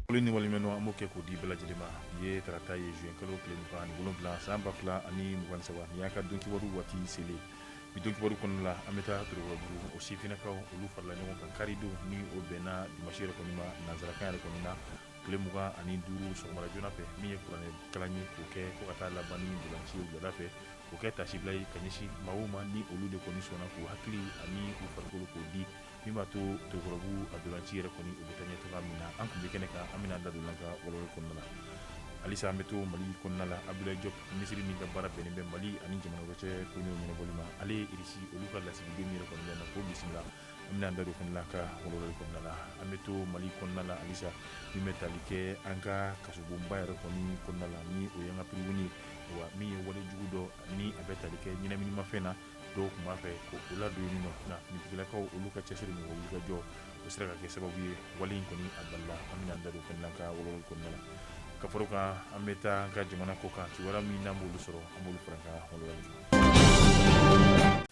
Foli ni waleɲumandɔn an b'o kɛ k'o di bɛɛ lajɛlen ma nin ye tarata ye zuwɛn kalo tile mugan ani wolonwula san ba fila ani mugan ni saba nin y'an ka donkibaru waati selen Bi donkibaru kɔnɔna la an bɛ taa Torokɔrɔbugu o sifinnakaw olu farala ɲɔgɔn kan karidon ni o bɛnna dimansi yɛrɛ kɔni ma nansarakan yɛrɛ kɔni na tile mugan ani duuru sɔgɔmada joona fɛ min ye kuranɛ kalan ye k'o kɛ fo ka taa laban ni ntolaci ye wulada fɛ k'o kɛ tasibila ye ka ɲɛsin maaw ma ni olu de kɔni sɔnna k'u hakili ani u farikolo k'o di Min b'a to Torokɔrɔbugu a ntolaci yɛrɛ kɔni o bɛ taa ɲɛ cogoya min na an tun bɛ kɛnɛ kan an bɛna da don a ka walawali kɔnɔna la halisa an bɛ to mali kɔnɔna la Abdoulaye Diop minisiri min ka baara bɛnnen bɛ mali ani jamana wɛrɛ cɛ ko ɲɛnabɔli ma ale Irisi olu ka lasigiden yɛrɛ kɔni na k'o bisimila an bɛna da don fana ka walawali kɔnɔna la an bɛ to mali kɔnɔna la halisa min bɛ tali kɛ an ka kasobonba yɛrɛ kɔni kɔnɔna la ni o ye an ka prison wa min ye walejugu dɔ ni a bɛ tali kɛ ɲɛnaminimafɛn na dɔw tun b'a fɛ ka o ladon yen nɔ nka finitigilakaw olu ka cɛsiri n'u ka wulikajɔ o sera ka kɛ sababu ye wale in kɔni a balila an bɛna da don fana ka walawali kɔnɔna la ka fara o kan an bɛ taa an ka jamana kɔ kan kibaruya min n'an b'olu sɔrɔ an b'olu fara ka walawala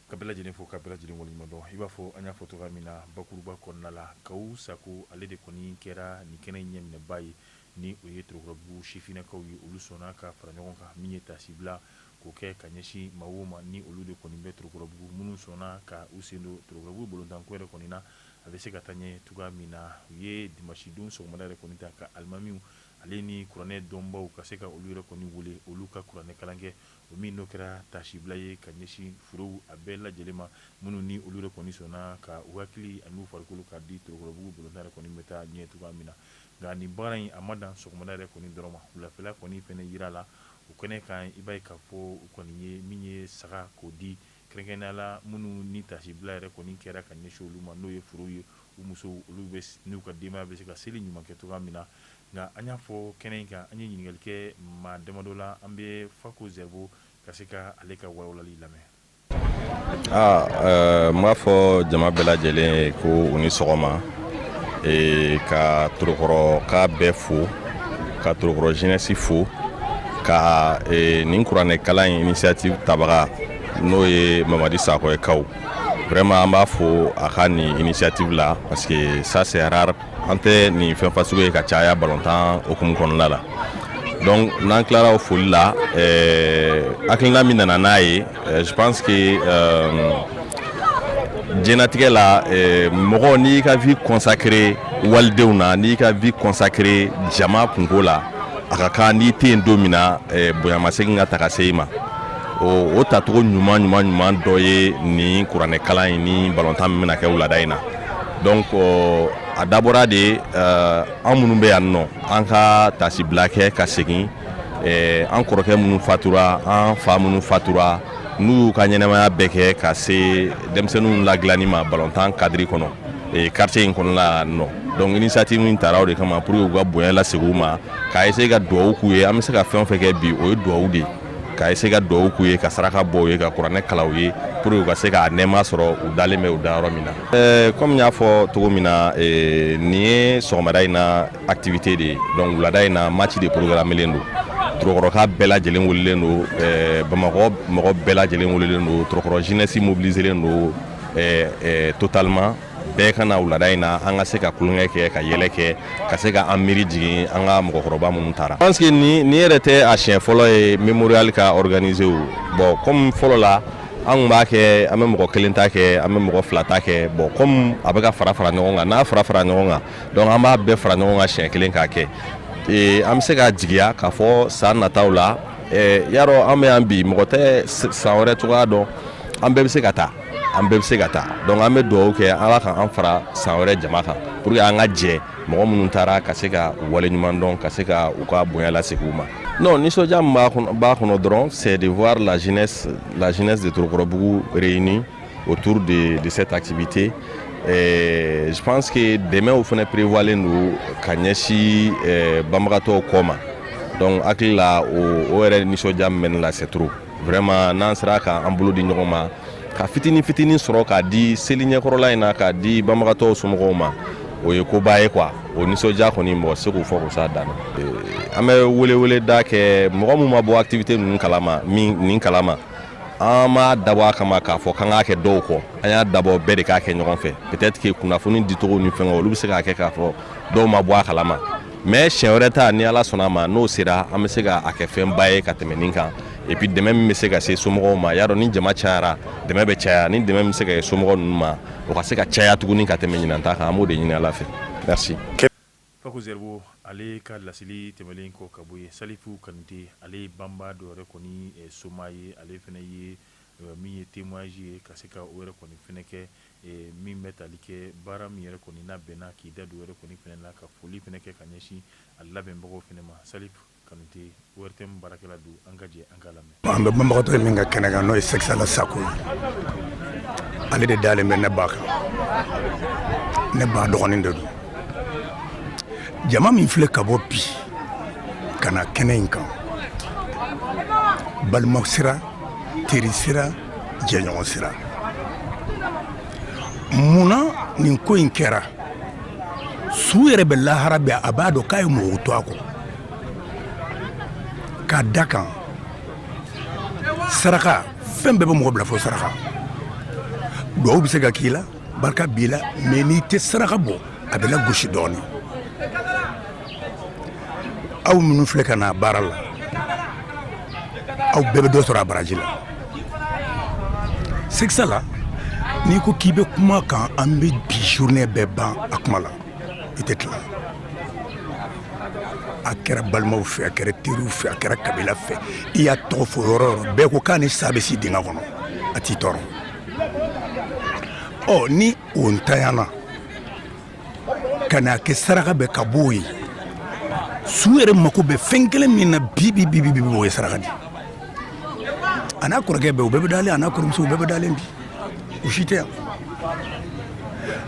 ka bɛɛ lajɛlen fo ka bɛɛ lajɛlen waleɲumandɔn i b'a fɔ an y'a fɔ cogoya min na bakuruba kɔnɔna la Kaw Sakɔ ale de kɔni kɛra nin kɛnɛ in ɲɛminɛba ye ni o ye torokɔrɔbugu sifinnakaw ye olu sɔnna ka fara ɲɔgɔn kan min ye tasibila K'o kɛ ka ɲɛsin maaw ma ni olu de kɔni bɛ Torokɔrɔbugu, minnu sɔnna ka u sen don Torokɔrɔbugu bolontanko yɛrɛ kɔni na, a bɛ se ka taa ɲɛ cogoya min na. U ye dimansidon sɔgɔmada yɛrɛ kɔni ta ka alimamiw ale ni kuranɛ dɔnbaaw ka se ka olu yɛrɛ kɔni wele, olu ka kuranɛkalan kɛ, o min n'o kɛra taasibila ye ka ɲɛsin furew a bɛɛ lajɛlen ma, minnu ni olu yɛrɛ kɔni sɔnna ka u hakili an'u farikolo k'a di Torokɔrɔbugu bolontan yɛrɛ kɔni bɛ taa ɲɛ cogoya min na. Nka nin baara in a ma dan sɔgɔmada yɛrɛ kɔni dɔrɔn ma, wulafɛla kɔni fana jira la O kɛnɛ kan i b'a ye k'a fɔ u kɔni ye min ye saga k'o di kɛrɛnkɛrɛnnenya la minnu ni tasibila yɛrɛ kɔni kɛra ka ɲɛsin olu ma n'o ye furew ye u musow olu bɛ n'u ka denbaya bɛ se ka seli ɲuman kɛ cogoya min na nka an y'a fɔ kɛnɛ in kan an ye ɲininkali kɛ maa damadɔ la an bɛ Fako Zerbo ka se ka ale ka walawalali lamɛn aa ɛɛ n b'a fɔ jama bɛɛ lajɛlen ye ko u ni sɔgɔma ee ka torokɔrɔka bɛɛ fo ka torokɔrɔ jeunesse fo ka ee nin kuranɛ kalan in initiative tabaga n'o ye mamadi sakɔ ye kaw vraiment an b'a fo a ka nin initiative la parce que ça c'est rare an tɛ nin fɛn fasugu ye ka caya balontan hukumu kɔnɔna la donc n'an tilara o foli la hakilina min nana n'a ye je pense que diɲɛnatigɛ la mɔgɔ n'i ka vie consacrée walidenw na n'i ka vie consacrée jama kunko la a ka kan n'i tɛ yen don min na bonyamasegin ka ta ka se i ma o tacogo ɲuman ɲuman ɲuman dɔ ye nin kuranɛkalan in ni balontan min bɛna kɛ wulada in na donc a dabɔra de an minnu bɛ yan nɔ an ka tasibila kɛ ka segin an kɔrɔkɛ minnu fatura an fa minnu fatura n'u y'u ka ɲɛnamaya bɛɛ kɛ ka se denmisɛnninw ladilanni ma balontan kadiri kɔnɔ quartier in kɔnɔla nɔ donc initiative nin tara o de kama pour que u ka bonya lasegin u ma ka essayer ka dugawu k'u ye an bɛ se ka fɛn o fɛn kɛ bi o ye dugawu de ye ka essayer ka duwawu k'u ye ka saraka bɔ u ye ka kuranɛ kalan u ye pour que u ka se k'a nɛɛma sɔrɔ u dalen bɛ u dayɔrɔ min na eh, comme n y'a fɔ cogo min na eh, nin ye sɔgɔmada in na activité de ye donc wulada in na match de programmelen don torokɔrɔka bɛɛ lajɛlen welelen don eh, bamakɔ mɔgɔ bɛɛ lajɛlen welelen don torokɔrɔ jeunesse mobiliselen don totalement bɛɛ ka na wulada in na an ka se ka tulonkɛ kɛ ka yɛlɛ kɛ ka se ka an miiri jigin an ka mɔgɔkɔrɔba minnu taara parce que nin yɛrɛ tɛ a siɲɛ fɔlɔ ye mémorial ka organiser o bon comme fɔlɔ la an tun b'a kɛ an bɛ mɔgɔ kelen ta kɛ an bɛ mɔgɔ fila ta kɛ bon comme a bɛ ka fara fara ɲɔgɔn kan n'a fara fara ɲɔgɔn kan donc an b'a bɛɛ fara ɲɔgɔn kan siɲɛ kelen k'a kɛ ee an bɛ se ka jigiya k'a fɔ san nataw la y'a dɔn an bɛ yan bi mɔgɔ tɛ san wɛrɛ cogoya dɔn an bɛɛ bɛ se ka taa an bɛɛ bɛ se ka taa donc an bɛ dugawu kɛ ala ka an fara san wɛrɛ jama kan pour que an ka jɛ mɔgɔ minnu taara ka se ka u waleɲuman dɔn ka se ka u ka bonya lasegin u ma non nisɔndiya min b'a kɔnɔ dɔrɔn c'est de voir la jeunesse de torokɔrɔbugu réunie autour de cette activité je pense que dɛmɛw fana prévoirlen don ka ɲɛsin banbagatɔw kɔ ma donc hakilila o yɛrɛ nisɔndiya min bɛ ne la c'est trop Vraiment n'an sera ka an bolo di ɲɔgɔn ma ka fitinin fitinin sɔrɔ k'a di seli ɲɛkɔrɔla in na k'a di banbagatɔw somɔgɔw ma o ye koba ye quoi o nisɔndiya kɔni mɔgɔ se k'o fɔ k'o s'a dan na an bɛ weleweleda kɛ mɔgɔ min ma bɔ activité ninnu kalama nin kalama an m'a dabɔ a kama k'a fɔ k'an k'a kɛ dɔw kɔ an y'a dabɔ bɛɛ de k'a kɛ ɲɔgɔn fɛ peut-être que kunnafoni dicogo ni fɛngɛw olu bɛ se k'a kɛ k'a fɔ dɔw ma bɔ a kalama mais siɲɛ wɛrɛ ta ni ala sɔnna a ma n'o sera an bɛ se k'a kɛ fɛnba ye ka tɛmɛ nin kan et puis dɛmɛ min bɛ se ka se somɔgɔw ma y'a dɔn ni jama cayara dɛmɛ bɛ caya ni dɛmɛ min bɛ se ka kɛ somɔgɔ ninnu ma o ka se ka caya tuguni ka tɛmɛ ɲinan ta kan an b'o de ɲini ala fɛ merci Fako Zerbo ale ka laseli tɛmɛnlen kɔ ka bɔ yen Salifu Kante ale banbagatɔw yɛrɛ kɔni somaa ye ale fana ye min ye témoignage ye ka se ka o yɛrɛ kɔni f kɛ min bɛ tali kɛ baara min yɛrɛ kɔni n'a bɛnna k'i da don yɛrɛ kɔni fɛnɛ na ka foli fɛnɛ kɛ ka ɲɛsin a labɛnbagaw fɛnɛ ma salifu kanute ORTM baarakɛla don an ka jɛ an k'a lamɛn an bɛ banbagatɔ min ka kɛnɛ kan n'o ye sɛkisala sakɔ ye ale de dalen bɛ ne ba kan ne ba dɔgɔnin de don jama min filɛ ka bɔ bi ka na kɛnɛ in kan balima sira teri sira jɛɲɔgɔn sira munna nin ko in kɛra su yɛrɛ bɛ lahara bɛɛ a b'a dɔn k'a ye mɔgɔw to a kɔ k'a da kan saraka fɛn bɛɛ bɛ mɔgɔ bila fo saraka duwawu bɛ se ka k'i la barika b'i la mais n'i tɛ saraka bɔ a bɛ lagosi dɔɔnin aw minnu filɛ ka n'a baara la aw bɛɛ bɛ dɔ sɔrɔ a baraji la sɛkisala n'i ko k'i bɛ kuma kan an bɛ bi journée bɛɛ ban a kuma la i tɛ tila a kɛra balimaw fɛ a kɛra teriw fɛ a kɛra kabila fɛ i y'a tɔgɔ fɔ yɔrɔ yɔrɔ bɛɛ ko k'a ni sa bɛ si dingɛ kɔnɔ a t'i tɔɔrɔ ɔ ni o ntanyana ka n'a kɛ saraka bɛ ka bɔ o ye su yɛrɛ mako bɛ fɛn kelen min na bi bi bi bi o ye saraka di a n'a kɔrɔkɛ bɛɛ u bɛɛ bɛ dalen a n'a kɔrɔmuso u bɛɛ bɛ dalen bi u si tɛ yan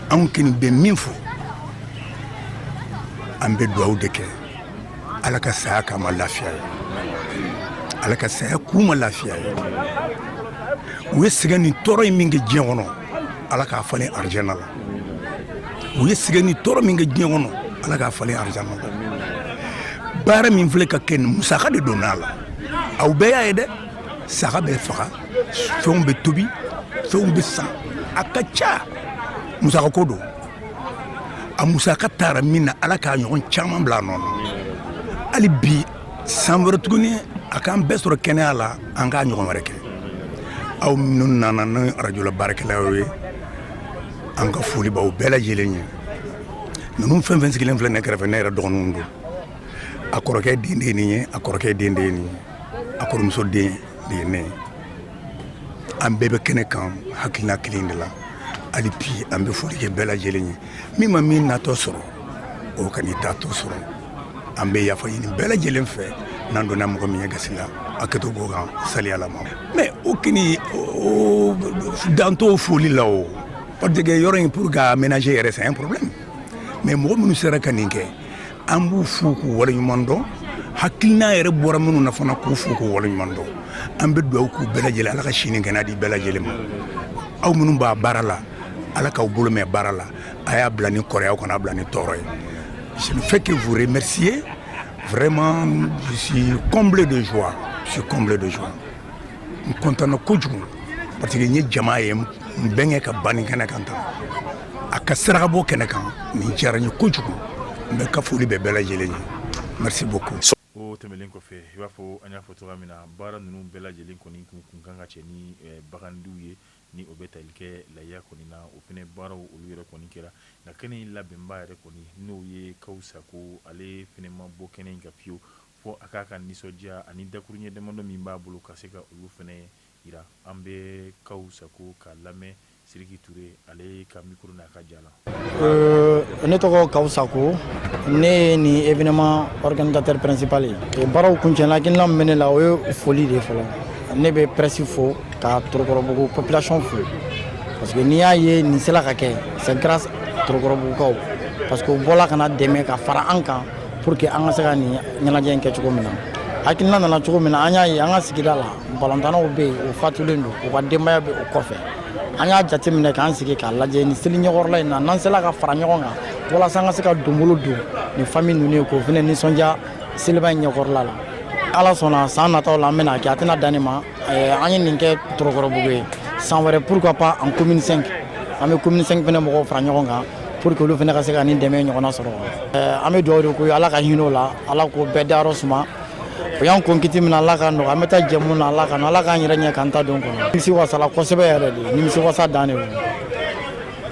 anw kɔni bɛ min fɔ an bɛ dugawu de kɛ ala ka saya k'a ma lafiya ye ala ka saya k'u ma lafiya ye u ye sɛgɛn ni tɔɔrɔ in min kɛ diɲɛ kɔnɔ ala k'a falen arijana la u ye sɛgɛn ni tɔɔrɔ min kɛ diɲɛ kɔnɔ ala k'a falen arijana la baara min filɛ ka kɛ nin musaka de donna a la aw bɛɛ y'a ye dɛ saga bɛ faga fɛnw bɛ tobi fɛnw bɛ san a ka ca musaka ko don a musaka taara min na ala k'a ɲɔgɔn caman bila a nɔ na hali bi san wɛrɛ tuguni a k'an bɛɛ sɔrɔ kɛnɛya la an k'a ɲɔgɔn wɛrɛ kɛ aw minnu nana ni arajola baarakɛlaw ye an ka foli b'aw bɛɛ lajɛlen ye ninnu fɛn fɛn sigilen filɛ ne kɛrɛfɛ ne yɛrɛ dɔgɔninw don a kɔrɔkɛ den de ye nin ye a kɔrɔkɛ den de ye nin ye a kɔrɔmuso den de ye ne an bɛɛ bɛ kɛnɛ kan hakilina kelen de la hali bi an bɛ foli kɛ bɛɛ lajɛlen ye min ma min natɔ sɔrɔ o kan'i taatɔ sɔrɔ an bɛ yafa ɲini bɛɛ lajɛlen fɛ n'an donna mɔgɔ min ye gasi la hakɛto b'o kan saliyalama mais o kɔni dan t'o foli la o parce que yɔrɔ in pour k'a aménager yɛrɛ c'est un problème mais mɔgɔ minnu sera ka nin kɛ an b'u fo k'u waleɲuman dɔn hakilina yɛrɛ bɔra minnu na fana k'u fo k'u waleɲuman dɔn an bɛ dugawu k'u bɛɛ lajɛlen ala ka sini kɛnɛ di bɛɛ lajɛlen ma aw minnu b'a baara la Ala k'aw bolo mɛn baara la a y'a bila ni kɔrɔ ye aw kana bila ni tɔɔrɔ ye je ne fais que vous remercier vraiment je suis comblé de joie je suis comblé de joie n kɔntanna kojugu parce que n ye jama ye n bɛnkɛ ka ban nin kɛnɛ kan tan a ka sarakabɔ kɛnɛ kan nin diyara n ye kojugu n bɛ ka foli bɛ bɛɛ lajɛlen ye merci beaucoup o tɛmɛnen kɔfɛ i b'a fɔ an y'a fɔ cogoya min na baara ninnu bɛɛ lajɛlen kɔni kun kan ka cɛ ni bagan ye Ni o bɛ tali kɛ layiya kɔni na o fɛnɛ baaraw olu yɛrɛ kɔni kɛra nka kɛnɛ in labɛnba yɛrɛ kɔni n'o ye Kawu Sako ale fɛnɛ ma bɔ kɛnɛ in kan fiyewu fɔ a k'a ka nisɔndiya ani dakuruɲɛ damadɔ min b'a bolo ka se ka olu fɛnɛ yira an bɛ Kawu Sako ka lamɛn Siriki Ture ale ka mikoro n'a ka ja la Euh, ne tɔgɔ Kawu Sako ne ye nin événement organisateur principal ye e baaraw kuncɛla hakilina min bɛ ne la o ye foli de fɔlɔ ne bɛ presse fo ka torokɔrɔbugu population fo parce que n'i y'a ye nin sela ka kɛ c'est grâce torokɔrɔbugukaw parce que u bɔla ka na dɛmɛ ka fara an kan pour que an ka se ka nin ɲɛnajɛ in kɛ cogo min na hakilina nana cogo min na an y'a ye an ka sigida la balontannaw bɛ yen u fatulen don u ka denbaya bɛ o kɔfɛ an y'a jateminɛ k'an sigi k'a lajɛ ni seli ɲɛkɔrɔla in na n'an sela ka fara ɲɔgɔn kan walasa an ka se ka donbolo don nin famille ninnu ye k'o fana nisɔndiya seliba in ɲɛkɔrɔla la ala sɔnna san nataw la an bɛna kɛ a tɛna dan nin ma eh, an ye nin kɛ torokɔrɔbugu ye san wɛrɛ pourquoi pas en commune 5 an bɛ commune 5 fana mɔgɔw fara ɲɔgɔn kan pour que olu fana ka se ka nin dɛmɛ ɲɔgɔnna sɔrɔ eh, an bɛ dugawu de k'u ye ala ka hinɛ o la ala k'o bɛɛ dayɔrɔ suma o y'an kɔn kiti min na ala k'a nɔgɔya an bɛ taa jɛmu na ala ka ala k'an yɛrɛ ɲɛ k'an ta don kɔnɔ nimisi wasala kosɛbɛ yɛrɛ de nimisi wasa dan de don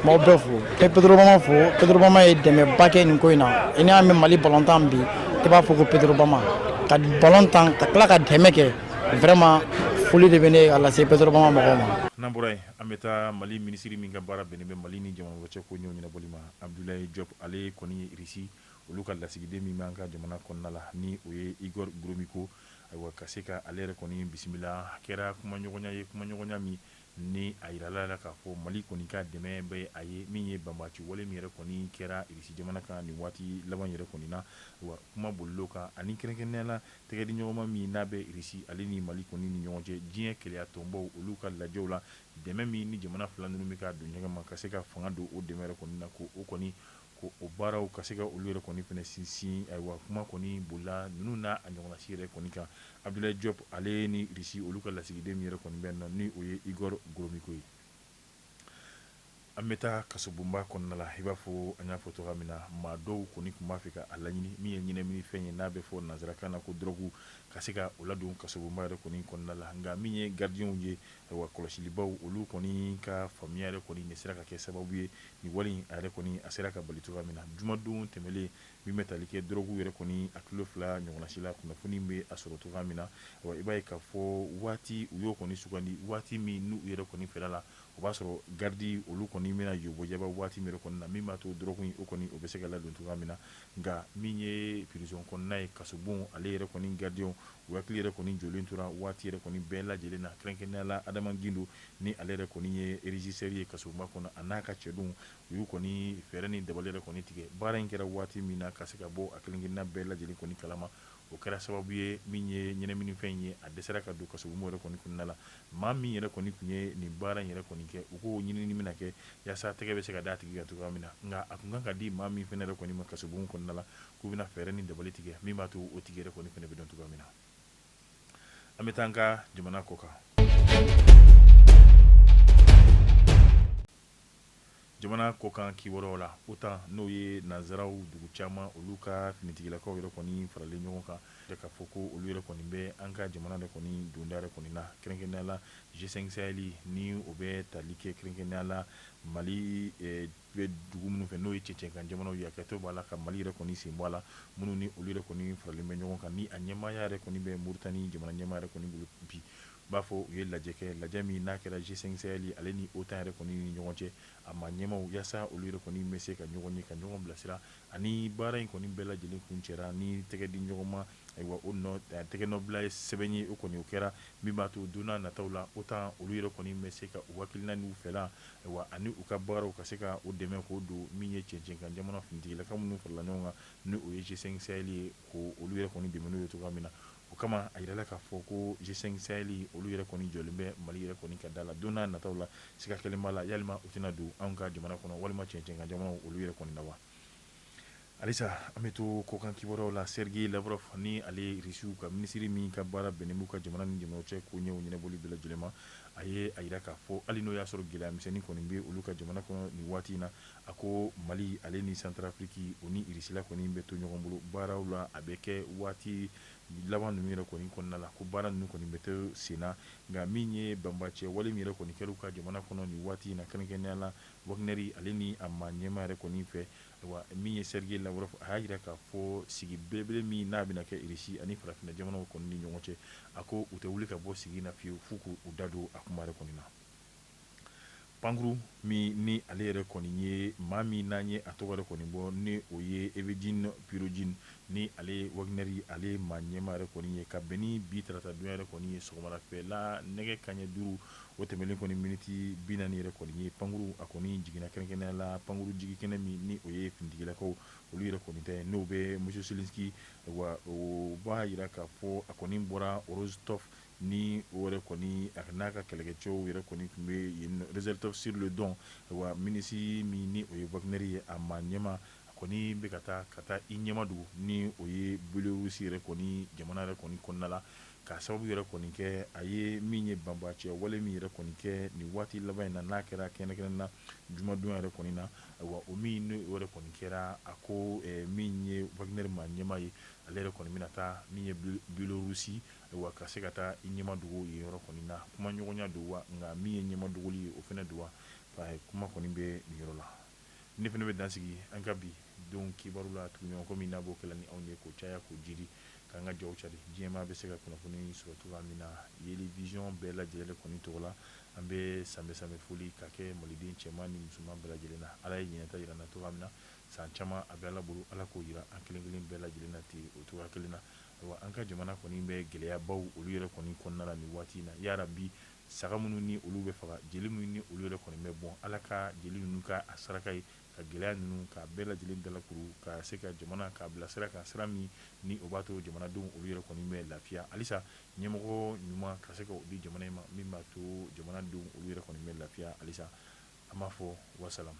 m'aw bɛɛ fo e petorobama fo petorobama ye dɛmɛba kɛ nin ko in na i n'an bɛ mali balontan bi i b'a fɔ ko petorobama ka balontan ka tila ka dɛmɛ kɛ vraiment foli de bɛ ne ka lase petorobama mɔgɔw ma n'an bɔra yen an bɛ taa mali minisiri min ka baara bɛnnen bɛ mali ni jamana wɛrɛ cɛ koɲɛw ɲɛnabɔli ma abudulayi jɔp ale kɔni ye irisi Olu ka lasigiden min b'an ka jamana kɔnɔna la ni o ye Igor Gromyko, ayiwa ka se ka ale yɛrɛ kɔni bisimila, a kɛra kumaɲɔgɔnya ye, kumaɲɔgɔnya min ni a jirala la k'a fɔ Mali kɔni ka dɛmɛ bɛ a ye, min ye banbaci wale min yɛrɛ kɔni kɛra Irisi jamana kan nin waati laban in yɛrɛ kɔni na, ayiwa kuma bolila o kan ani kɛrɛnkɛrɛnnenya la tɛgɛdiɲɔgɔnma min n'a bɛ Irisi ale ni Mali kɔni ni ɲɔgɔn cɛ diɲɛ kelenya tɔnbaw olu ka lajɛw la, dɛmɛ min ni jamana fila ninnu bɛ ka don ɲɔgɔn ma ka se ka fanga don o dɛmɛ yɛrɛ kɔni na ko o kɔni ko o baaraw ka se ka olu yɛrɛ kɔni fɛnɛ sinsin ayiwa kuma kɔni bolila ninnu n'a a ɲɔgɔnnasi yɛrɛ kɔni kan abudulayi jɔpu ale ni irisi olu ka lasigiden min yɛrɛ kɔni bɛ na ni o ye igoro goromiko ye an bɛ taa kasobonba kɔnɔna la i b'a fɔ an y'a fɔ cogoya min na maa dɔw kɔni tun b'a fɛ ka a laɲini min ye ɲɛnaminifɛn ye n'a bɛ fɔ nanzarakan na ko dɔrɔgu ka se ka o ladon kasobonba yɛrɛ kɔni kɔnɔna la nka min ye garidiw ye ayiwa kɔlɔsilibaw olu kɔni ka faamuya yɛrɛ kɔni nin sera ka kɛ sababu ye Nin wale in a yɛrɛ kɔni a sera ka bali cogoya min na jumadon tɛmɛnlen min bɛ tali kɛ dɔrɔgu yɛrɛ kɔni a kilo fila ɲɔgɔnnasi la kunnafoni bɛ a sɔrɔ cogoya min na ayiwa i b'a ye k'a fɔ waati u y'o kɔni sugandi waati min n'u yɛrɛ kɔni fɛla la o b'a sɔrɔ garidi olu kɔni bɛna yobajaba waati min kɔni na min b'a to dɔrɔgu in o kɔni o bɛ se ka ladon cogoya min na nka min ye prison kɔnɔna ye kasobon ale yɛrɛ kɔni garidiw hakili yɛrɛ kɔni jɔlen tora waati yɛrɛ kɔni bɛɛ lajɛlen na kɛrɛnkɛrɛnnenya la adama gindo Ni ale yɛrɛ kɔni ye régisseur ye kasobonba kɔnɔ a n'a ka cɛdenw u y'u kɔni fɛɛrɛ ni dabali yɛrɛ kɔni tigɛ baara in kɛra waati min na ka se ka bɔ a kelenkelenna bɛɛ lajɛlen kɔni kalama o kɛra sababu ye min ye ɲɛnaminifɛn in ye a dɛsɛra ka don kasobonba yɛrɛ kɔni kɔnɔna la maa min yɛrɛ kɔni tun ye nin baara in yɛrɛ kɔni kɛ u k'o ɲinini bɛna kɛ yaasa tɛgɛ bɛ se ka d'a tigi kan cogoya min na nka a tun kan ka di maa min fɛnɛ yɛrɛ kɔni ma kasobon kɔnɔna la k'u bɛna fɛɛrɛ ni dabali tigɛ min b'a to o tigi yɛrɛ kɔni fɛnɛ bɛ dɔn cogoya min na An bɛ taa an ka jamana kɔ kan jamana kɔ kan kibaruyaw la otan n'o ye nanzaraw dugu caman olu ka finitigilakaw yɛrɛ kɔni faralen ɲɔgɔn kan k'a fɔ ko olu yɛrɛ kɔni bɛ an ka jamana yɛrɛ kɔni donda yɛrɛ kɔni na kɛrɛnkɛrɛnnenya la G5 sahɛli ni o bɛ tali kɛ kɛrɛnkɛrɛnnenya la mali Bɛ dugu minnu fɛ n'o ye cɛncɛnkan jamanaw ye hakɛto b'a la ka mali yɛrɛ kɔni sen bɔ a la minnu ni olu yɛrɛ kɔni faralen bɛ ɲɔgɔn kan ni a ɲɛmaaya yɛrɛ kɔni bɛ moritani jamana ɲɛmaa yɛrɛ kɔni bolo bi i b'a fɔ u ye lajɛ kɛ lajɛ min n'a kɛra G5 sahɛli ale ni otan yɛrɛ kɔni ni ɲɔgɔn cɛ a maa ɲɛmaw yaasa olu yɛrɛ kɔni bɛ se ka ɲɔgɔn ye ka ɲɔgɔn bilasira ani baara in kɔni bɛɛ lajɛlen kuncɛra ni tɛgɛ di ɲɔgɔn ma Ayiwa o tɛgɛnɔbila ye sɛbɛn ye o kɔni o kɛra min b'a to donna nataw la otan olu yɛrɛ kɔni bɛ se ka u hakilina n'u fɛla ayiwa ani u ka baaraw ka se ka o dɛmɛ k'o don min ye cɛncɛnkan jamana finitigilaka minnu farala ɲɔgɔn kan ni o ye G5 sahɛli ye ko olu yɛrɛ kɔni dɛmɛ n'o ye cogoya min na o kama a yirala k'a fɔ ko G5 sahɛli olu yɛrɛ kɔni jɔlen bɛ mali yɛrɛ kɔni ka da la donna nataw la siga kelen b'a la yalima u tɛna don an ka jamana kɔnɔ walima cɛncɛnkan jamanaw olu yɛrɛ kɔni na wa Alisa an bɛ to kɔkan kibaruyaw la sɛrigɛyi lavrɔfu ni ale ye irisiw ka minisiri min ka baara bɛnnen b'u ka jamana ni jamanaw cɛ koɲɛw ɲɛnabɔli bɛɛ lajɛlen ma a ye a yira k'a fɔ hali n'o y'a sɔrɔ gɛlɛya misɛnnin kɔni bɛ olu ka jamana kɔnɔ nin waati in na a ko mali ale ni santarafiriki o ni irisila kɔni bɛ to ɲɔgɔn bolo baaraw la a bɛ kɛ waati laban ninnu yɛrɛ kɔni kɔnɔna la ko baara ninnu kɔni bɛ to senna nka min ye banbacɛ wale min yɛrɛ kɔni kɛra u ka jamana kɔnɔ nin waati in na kɛrɛnkɛrɛnnenya la Wagnɛri ale ni a maa ɲɛmaa yɛrɛ kɔni fɛ, wa min ye Sergei Lavrov, a y'a jira k'a fɔ sigi belebele min n'a bɛna kɛ Irisi ani farafinna jamanaw kɔni ni ɲɔgɔn cɛ, a ko u tɛ wuli ka bɔ sigi in na fiyewu f'u k'u da don a kuma yɛrɛ kɔni na. Pankuru min ni ale yɛrɛ kɔni ye maa min n'an ye a tɔgɔ yɛrɛ kɔni bɔ ni o ye Evgeny Prigozhin, ni ale ye Wagnɛri ale maa ɲɛmaa yɛrɛ kɔni ye, ka bɛn ni bi taratadonya yɛrɛ kɔni ye sɔgɔmada fɛla nɛgɛ kanɲɛ duuru, O tɛmɛlen kɔni miniti bi naani yɛrɛ kɔni ye pankuru a kɔni jiginna kɛrɛnkɛrɛnnenya la pankuru jigi kɛnɛ min ni o ye finitigilakaw olu yɛrɛ kɔni ta ye n'o bɛ Machulishchy wa o b'a jira k'a fɔ a kɔni bɔra Rostov ni o yɛrɛ kɔni a n'a ka kɛlɛkɛcɛw yɛrɛ kɔni tun bɛ Rostov-sur-le-Don wa milisi min ni o ye Wagnɛri ye a maa ɲɛmaa a kɔni bɛ ka taa ka taa i ɲɛmadogo ni o ye Biyelorusi yɛrɛ kɔni jamana yɛrɛ kɔni kɔnɔna la Ka sababu yɛrɛ kɔni kɛ a ye min ye banbaanci wale min yɛrɛ kɔni kɛ nin waati laban in na n'a kɛra kɛrɛnkɛrɛnnenya jumadonya yɛrɛ kɔni na wa o min n'o yɛrɛ kɔni kɛra a ko min ye Wagnɛri maa ɲɛmaa ye ale yɛrɛ kɔni bɛna taa min ye Biyelorusi wa ka se ka taa i ɲɛmadogo yen yɔrɔ kɔni na kumaɲɔgɔnya don wa nka min ye ɲɛmadogoli ye o fana don wa kuma kɔni bɛ nin yɔrɔ la Ne fana bɛ dan sigi an ka bi don kibaru la tuguɲɔgɔnkɔ min n'a b'o kɛ la ni anw ye k'o caya k'o jiri k'an ka jaw cari diɲɛmaa bɛ se ka kunnafoni sɔrɔ cogoya min na yeli vision bɛɛ lajɛlen kɔni tɔgɔ la an bɛ sanbɛ sanbɛ foli ka kɛ maliden cɛman ni musoman bɛɛ lajɛlen na ala ye ɲinan ta jira an na cogoya min na san caman a bɛ ala bolo ala k'o jira an kelen kelen bɛɛ lajɛlen na ten o cogoya kelen na ayiwa an ka jamana kɔni bɛ gɛlɛyabaw olu yɛrɛ kɔni kɔnɔna la nin waati in na yarabi Saga minnu ni olu bɛ faga, jeli minnu ni olu yɛrɛ kɔni bɛ bɔn, Ala ka jeli ninnu kɛ a saraka ye, ka gɛlɛya ninnu k'a bɛɛ lajɛlen dalakuru, ka se ka jamana k'a bila sira kan, sira min ni o b'a to jamanadenw olu yɛrɛ kɔni bɛ lafiya halisa, ɲɛmɔgɔ ɲuman ka se ka o di jamana in ma min b'a to jamana denw olu yɛrɛ kɔni bɛ lafiya halisa, an b'a fɔ wasalamu.